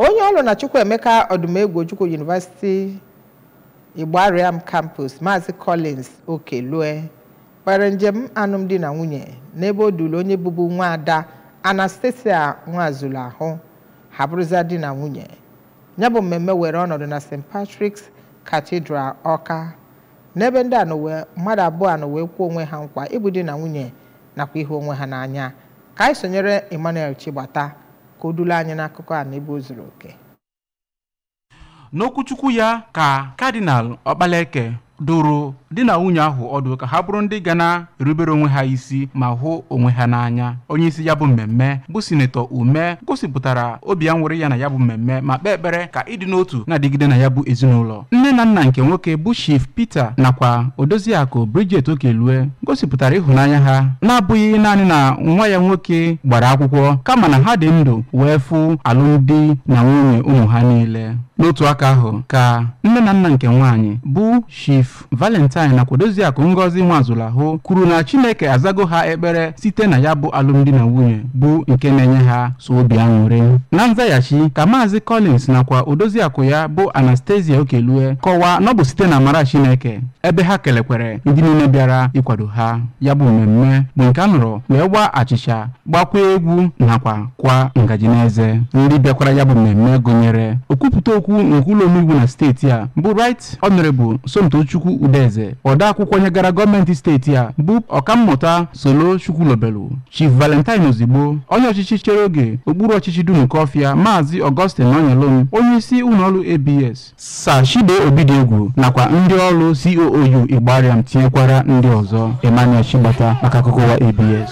onye ọrụ na Chukwuemeka Odumegwu Ojukwu University Igbariam Campus Maazị Collins Okelue kpere njem alụmdi na nwunye n'ebe o duru onye bụbu nwa ada Anastasia Nwazuluahụ ha bụrụza di na nwunye ya bụ mmemme were ọnọdụ na St. Patrick's Cathedral Ọka n'ebe ndị a nọ wee mmadụ abụọ a nọ wee kwe onwe ha nkwa ịbụ di na nwunye nakwa ịhụ onwe ha n'anya ka anyị sonyere Emmanuel Chigbata ka o duru anyị n'akụkọ a n'ebe o zuru oke n'okwuchukwu ya ka Cardinal Okpaleke dụrụ di na nwunye ahụ ọdụ ka ha bụrụ ndị ga na-erubere onwe ha isi ma hụ onwe ha n'anya onye isi ya bụ mmemme bụ sinetọ Umeh gosipụtara obi aṅụrị ya na ya bụ mmemme ma kpee ekpere ka ịdị n'otu na-adịgide na ya bụ ezinụlọ nne na nna nke nwoke bụ Chief Peter nakwa odoziakụ Bridget Okelue gosipụtara ịhụnanya ha na-abụghị naanị na nwa ya nwoke gbara akwụkwọ kama na ha dị ndụ wee fụ alụmdi na nwunye ụmụ ha niile n'otu aka ahụ ka nne na nna nke nwaanyị bụ Chief Valentine nakwa odoziakụ Ngozi Nwazuluahụ kwuru na Chineke azago ha ekpere site na ya bụ alụmdi na nwunye bụ nke na-enye ha sọ obi aṅụrị na nzaghachi ka maazị Collins nakwa odoziakụ ya bụ Anastasia Okelue kọwaa na ọ bụ site n'amara Chineke ebe ha kelekwere ndị niile bịara ịkwado ha ya bụ mmemme bụ nke a nọrọ wee waa achịcha gbakwa egwu nakwa kwa ngaji n'eze ndị bịakwara ya bụ mmemme gụnyere okwupụta okwu nke ụlọ omeiwu na steeti a bụ Right Honorable Somtochukwu Udeze odeakwụkwọ nyegara gọọmenti steeti a bụ ọkammụta Solo Chukwulobelu Chief Valentine Ozigbo, onye ọchịchị chere oge okpuru ọchịchị Dunukọfịa, Maazị Augustine Nonyelum, onye isi ụlọọrụ ABS, Sir Chido Obidiegwu nakwa ndị ọrụ COOU Igbariam tinyekwara ndị ọzọ Emmanuel Chigbata maka akụkọ ụwa ABS.